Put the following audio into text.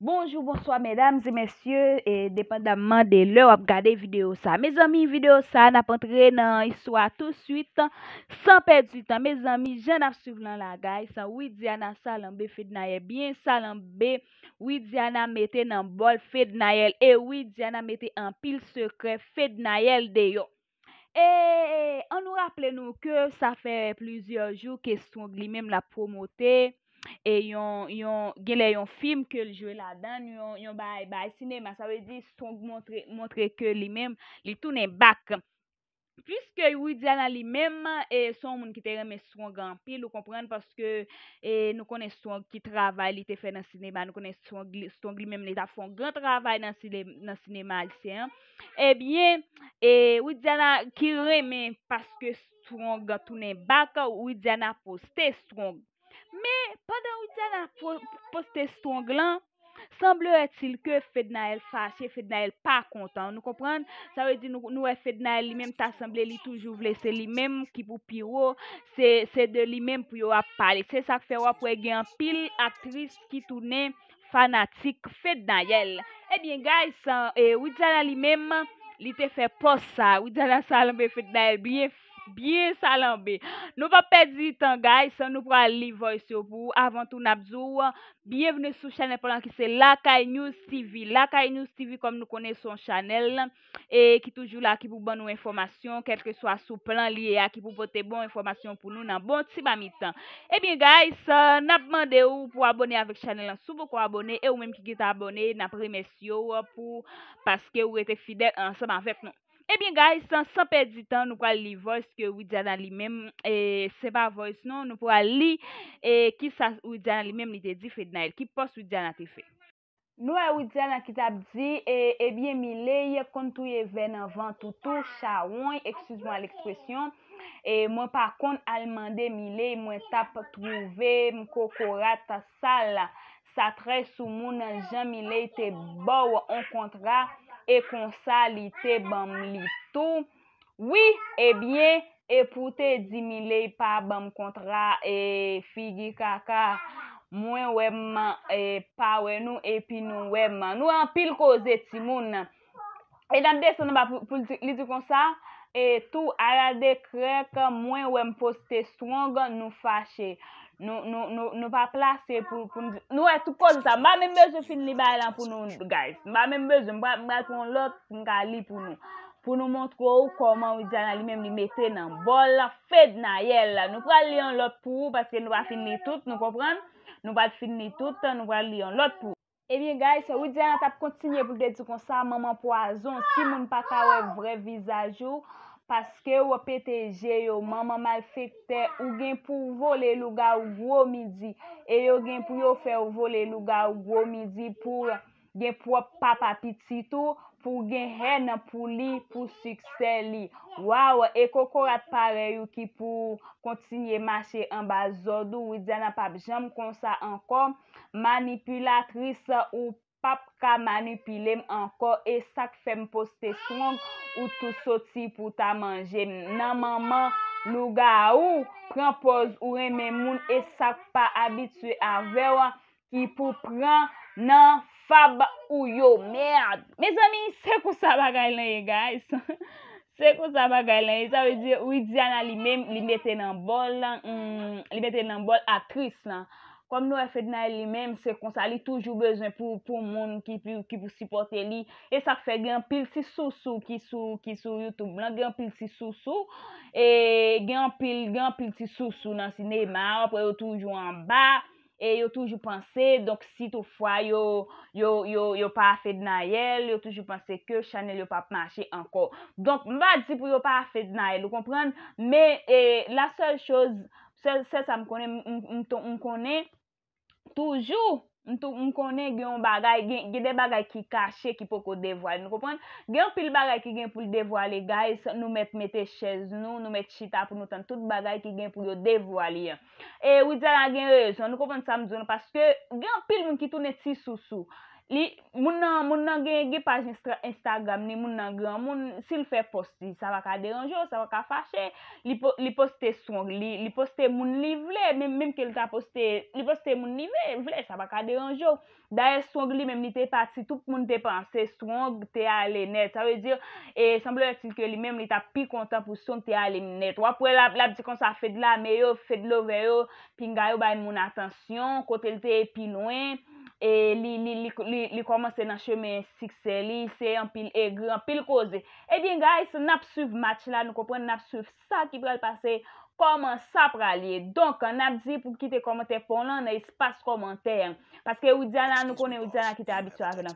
Bonjou bonswa medam e mesye e depandamman de lè wap gade video sa mezanmi video sa nap antre nan istwa tou swit san pèdi tan mezanmi jan nap swiv lan la gays widiana salanbe fednaelle byen salanbe widiana mete nan bòl fednaelle e widiana mete anpil sekrè fednaelle deyò. E an nou raple nou ke sa fè plizyè jou ke Strong li menm l ap pwomote e yon genlè yon fim ke l jwe ladan l, yon bagay bay sinema. Sa vle di Strong montre ke li menm li tounen bak. Piske Widiana li menm e se yon moun ki te renmen Strong anpil ou konprann paske e nou konnen Strong ki travay li te fè nan sinema nou konnen Strong li menm li t ap fè yon gran travay nan sinema ayisyen an. Ebyen e widiana ki renmen paske strong tounen bak widiana poste strong men pandan widiana poste strong lan sanbleretil ke fednaelle fache fednaelle pa kontan nou konprann sa vle di nou wè fednaelle li menm ta sanble li toujou vle se li menm ki pou piwo se de li menm pou yo ap pale se sak fè wap wè gen anpil aktris ki tounen fanatik fednaelle ebyen guys san widiana li menm li te fè pòs sa widiana salanbe fednaelle byen byen salanbe nou pap pèdi tan guys nou pral li voice yo pou ou avan tou nap di w byenvni sou chanèl pa nou an ki se lakay news tv lakay news tv kòm nou konnen son chanèl e ki toujou la ki pou ban nou enfòmasyon kelke swa sou plan li ye a ki pou pote bon enfòmasyon pou nou nan bon ti mamit tan ebyen guys nap mande ou pou abone avèk chanèl lan sou poko abone e ou menm ki gentan abone nap remèsye ou pou paske ou rete fidèl ansanm avèk nou ebyen guys san pèdi tan nou pral li voice ke Widiana li menm e se pa voice non nou pral li e kisa Widiana li menm li te di Fednaelle ki pòs Widiana te fè. Nou wè Widiane an ki tap di e ebyen Miley konn touye vè nan vant ou tou chawony excuse moi l'expression e mwen pa konn al mande Miley mwen tap trouve m kokorat sal sa trè soumoun jan Miley te baw on kontra e konsa li te banm li tou Wi ebyen epou w te di miley pa banm kontra e figi kaka mwen wè m pa wè nou epi nou wè m nou anpil koze timoun e nap desann anba pou li di konsa e tou aral de krèk mwen wè m poste strong nou fache nou pa plase pou nou di nou wè tout koze sa m pa menm bezwen fin li bagay lan pou nou guys m pa menm bezwen m pral pran lòt m ka li pou nou. Pou nou montre ou kòman Widiana li menm li mete nan bòl Fednaelle. Nou pral li yon lòt pou ou paske nou pa fin li tout, nou konprann? Nou pat fin li tout, nou pral li yon lòt pou ou. Ebyen guys, Widiana tap kontinye pou l te di konsa, manman pwazon, si moun pa ka wè vrè vizaj ou, paske w pete je yo, manman malfektè, ou gen pou w vole lougawou gwo midi, e yo gen pou yo fè w vole lougawou gwo midi pou gen pwòp papa pitit ou pou w gen hèn pou li pou siksè li waww e kokorat parèy ou ki pou kontinye mache anba zòd ou widiana pap janm konsa ankò manipilatris ou pap ka manipilem ankò e sak fèm poste strong ou tou soti pou ta manjem nan manman lougawou pran pòz ou renmen moun e sak pa abitye avèw ki pou pran nan fab ou yo merd mezanmi se konsa bagay lan ye guys se konsa bagay lan ye sa vle di widiana li menm li mete nan bòl li mete nan bòl aktris lan kòm nou wè fednaelle li menm se konsa li toujou bezwen pou moun ki pou sipòte li e sak fè gen anpil ti sousou ki sou youtube lan gen anpil ti sousou e gen anpil gen anpil ti sousou nan sinema wap wè yo toujou anba. e yo toujou panse, donk si tout fwa yo, yo, yo, yo pa fednaelle, yo toujou panse ke chanèl yo pap mache ankò. Donk, m pa di pou yo pa fednaelle, ou konprann? Men, e, la sèl choz, sèl, sèl sa m konnen, m, m ton, m konnen, toujou, m tou, m konnen gen yon bagay, gen, gen de bagay ki kache ki poko devwale, nou konprann? Gen anpil bagay ki gen pou l devwale guys, nou mèt mete chèz nou, nou mèt chita pou nou tann tout bagay ki gen pou yo devwale an. E widiana gen rezon, nou konprann sam diw la paske gen anpil moun ki tounen ti sousou. Li, moun nan, moun nan gen gen paj instra, instagram li, moun nan granmoun, sil fè pòs li sa pa ka deranjew, sa pa ka fache, li po, li poste strong li, li poste moun li vle, menm menm kel ta poste, li poste moun li vle, sa pa ka deranjew. Dayè Strong li menm li te pati tout moun te panse Strong te ale nèt sa vle di e sembleretil ke li menm li tap pi kontan pou Strong te ale nèt wap wè lap lap di konsa Fedlame yo Fedlove yo pinga yo bay moun atansyon kote li te ye pi lwen e li li li li kòmanse nan chemen siksè li se anpil egri anpil koze ebyen guys nap swiv match la nou konprann nap swiv sa ki pral pase, kòman sa pral ye. Donk, n ap di pou kite kòmantè pa w lan nan espas kòmantè an. Paske Widiana, nou konnen Widiana ki te abitye avè n.